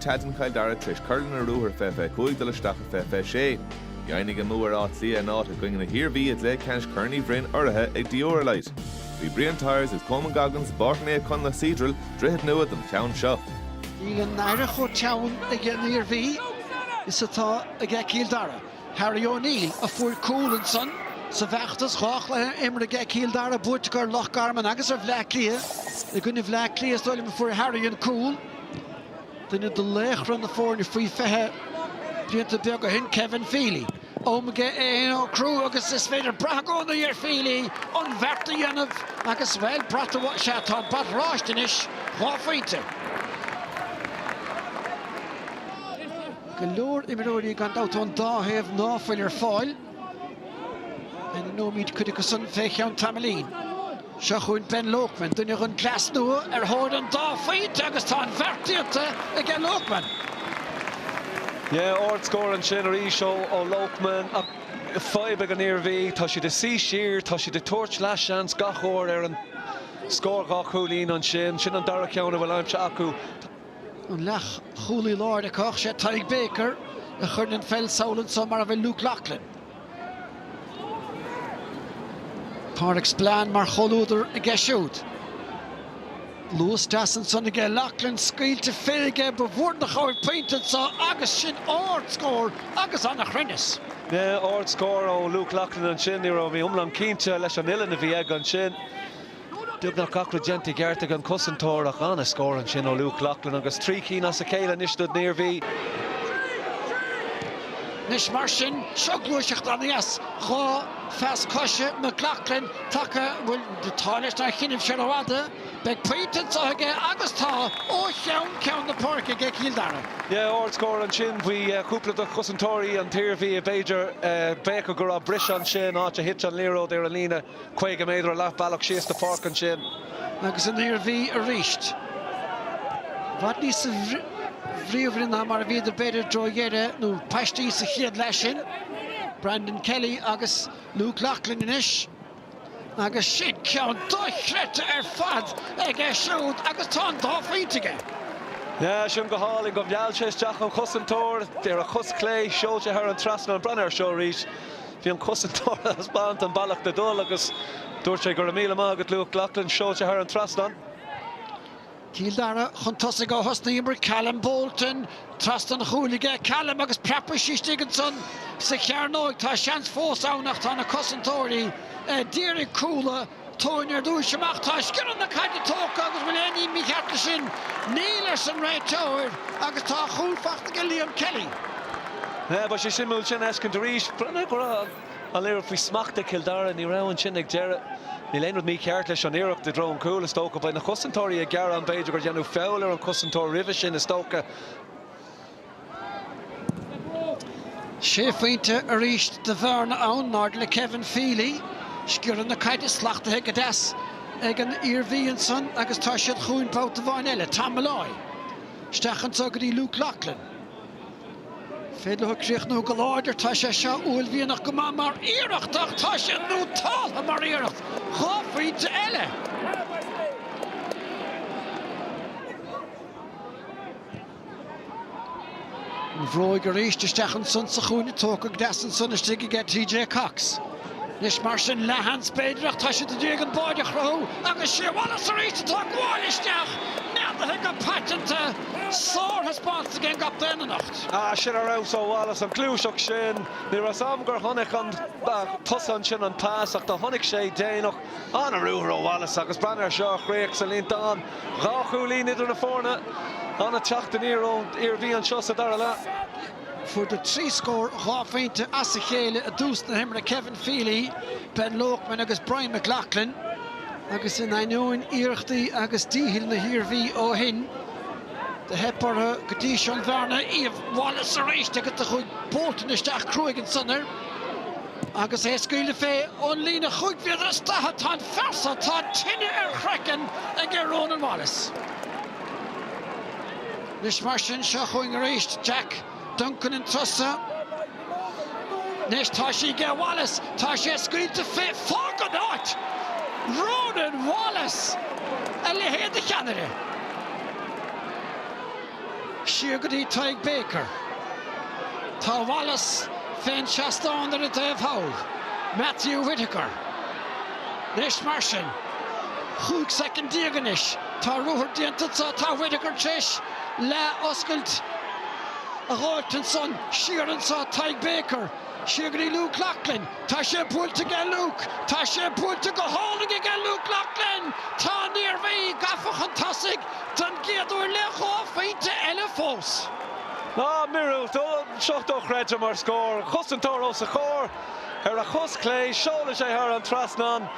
Tá dún Chill Dara tréis cur lena ruathar fiche fiche 5 dul isteach i fiche fiche 6. Dheimhnigh a mbua ar Áth Cliath a n-áit i gcoinne na hIarmhí i gcluiche ceannais Chorn Uí Bhroin urraithe ag Dioralyte. Bhí Brian Tyers agus Coman Goggins i bPáirc Naomh Conleth Cedral, Droichead Nua don cheann seo. Níl an aire chomh teann ag an Iarmhí is atá ag Cill Dara. Harry O'Neill a fuair cúl ansan sa bhfeachtas dhá chluiche imeartha ag Cill Dara buaiteach ar Loch Garman agus ar Bhleá Cliath. I gcoinne Bhleá Cliath is dóigh liom a fuair Harry an cúl. Duine de laochra na foirne faoi 20 blianta beaga ó shin, Kevin Feely. Am aige é fhéin a shocrú agus is féidir brath i gcónaí ar Feely an bheart a dhéanamh agus, bhuel, brat, sea, tá an brat oráiste anois, dhá phointe. Go leor imreoirí gan dabht ón dá thaobh ná fuil ar fáil. Ainmneoimid cuid acu san fé cheann tamaillín. Seo chugainn Ben Loakman, duine den gcleas nua ar thóir an dá phointe agus tá an bheart déanta aige Loakman. Yeah, ard scór ansin arís ó Loakman ach fadhb ag an Iarmhí, tá siad ag suí siar, tá siad ag tabhairt leo seans gach uair ar an scór dhá chúilín ansin, sin an dara ceann a bhfuil aimsithe acu. An leath chúlaí láir acu ach is é Tadhg Baker a chuireann an pheil sall anseo mar a bhfuil Luke Loughlin. Pádraig Spillane mar chomhluadar aige siúd. Luas deas ansan aige Loughlin, scaoilte fé aige, ba mhór an chabhair pointe anseo agus sin ard scór agus ana chruinneas. Ard scór ó Luke Loughlin ansin, ní raibh mé iomlán cinnte leis an uillinn a bhí aige ansin. Beagnach gach rud déanta i gceart ag an cosantóir ach an-a scór ansin ó Luke Loughlin agus trí cinn as a chéile anois don Iarmhí. Anois mar sin, seo gluaiseacht aníos dhá phas cois McLoughlin, taca a bhfuil t'réis dá thionlacan seo rófhada. Beidh pointe anseo aige agus tá, ó cheann ceann na páirce aige Cill Dara. Yeah, ard scór ansin bhí cúpla de chosantóirí an Iarmhí. B'fhéidir, d'fhéadfadh go raibh briseadh ansin, áit a thit an liathróid ar an líne. 50 méadar leath bealach síos an pháirc ansin agus an Iarmhí arís. I bhfad níos bríomhaire ná mar a bhíodar b'fhéidir i dtreo dheireadh nó paistí sa chéad leath sin. Brandon Kelly agus Luke Loughlin anois. Agus sin ceann dochreidte ar fad aige siúd agus tá an dá phointe aige. Yeah, sin go hálainn gur mheall sé isteach an cosantóir ar a chos chlé, seoil sé thar an trasnán, breathnaigh ar seo arís. Bhí an cosantóir ag taispeáint an bealach le dul agus dúirt sé, 'Go raibh míle maith agat, Luke Loughlin', seolta thar an trasnán. Cill Dara chun tosaigh ó thús na himeartha, Callum Bolton. Trasna an chúil aige Callum agus preab aisteach istigh ansan sa chearnóig. Tá seans fós ann ach tá na cosantóirí ag déanamh cúla. Tóin ar dtúis amach, tá sciorradh na caide tógtha agus bhfuil aon ní mícheart leis sin? Níl, arsa an réiteoir agus tá a chúl fachta aige Liam Kelly. Bheadh sé suimiúil sin a fheiscint arís. Bhreathnaigh go raibh an liathróid faoi smacht ag Cill Dara. Ní raibh ansin ag deireadh. Níl aon rud mícheart leis an iarracht i dtreo an chúil, is dócha. Beidh na cosantóirí ag gearán b'fhéidir gur deineadh feall ar an cosantóir roimhe sin, is dócha. Sé phointe arís de bhearna ann, náid le Kevin Feely. Sciorradh na caide slachtaithe go deas ag an Iarmhí ansan agus tá siad chugainn babhta amháin eile. Tom Molloy. Isteach anso go dtí Luke Loughlin. Féidir leo críochnú go láidir. Tá sé seo uaillmhianach go maith mar iarracht ach tá sé nótáltha mar iarracht. Dhá phointe eile! An bhróig arís, isteach ansan sa chúinne tógtha go deas ansan istigh aige TJ Cox. Anois mar sin leathsheans b'fhéidir ach tá siad i ndiaidh an báide a chruthú agus is é Wallace arís atá ag gabháil isteach, neadaithe go paiteanta. Sárthaispeántas ag an gcaptaen anocht. Ah, sin ar fheabhas ó Wallace, an gluaiseacht sin. Ní raibh 's 'am gur chonaic an tosaí ansin an pas ach do chonaic sé déanach. Ana ruathar ó Wallace agus breathnaigh air seo mar chríoch sa líontán. Dhá chúilín idir na foirne. Ana theacht aniar ón Iarmhí anseo sa dara leath. Fuaireadar trí scór dhá phointe as a chéile i dtús na himeartha Kevin Feely, Ben Loakman agus Brian McLoughlin agus in ainneoin iarrachtaí agus dícheall na hIarmhí ó shin do theip orthu go dtí seo an bhearna a iamh. Wallace arís agus do chuaigh Bolton isteach cruaidh ansan air. Agus é ag scaoileadh fé ón líne chúig mhéadar is daichead, tá an fear so, tá tine ar chraiceann aige, Ronan Wallace. Anois mar sin, seo chugainn arís Jack Duncan an turas so. Anois tá sí aige Wallace, tá sé scaoilte fé, fág an áit! Ronan Wallace! A leithéid de cheannaire! Siar go dtí Tadhg Baker. Tá Wallace fén seastán ar an dtaobh thall, Matthew Whittaker. Anois mar sin, chúig soicind déag anois, tá ruathar déanta anso, tá Whittaker t'réis leath oscailt a fháilt ansan, siar anso Tadhg Baker, siar go dtí Luke Loughlin. Tá sé buailte aige Luke! Tá sé buailte go hálainn aige Luke Loughlin! Tá an Iarmhí gafa chun tosaigh don gcéad uair le dhá phointe eile fós. Míorúilt tá seo dochreidte mar scór. Cosantóir os a chomhair. Ar a chos chlé, seolann sé thar an trasnán.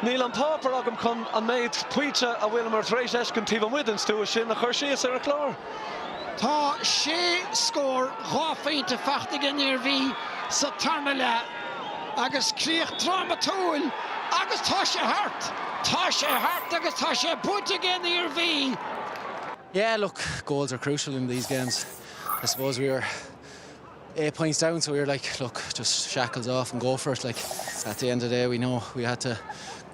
Níl an páipear agam chun an méid pointe a bhfuileamar tar éis fheiscint taobh amuigh den stua sin a chur síos ar an chlár. Tá sé scór dhá phointe faighte ag an Iarmhí sa tarna leath agus críoch drámatúil agus tá sé thart! Tá sé thart agus tá sé buaite ag an Iarmhí! Yeah look goals are crucial in these games I suppose we were eight points down so we were like look just shackles off and go for it like at the end of the day we know we had to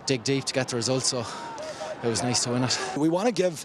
dig deep to get the result so it was nice to win it. We want to give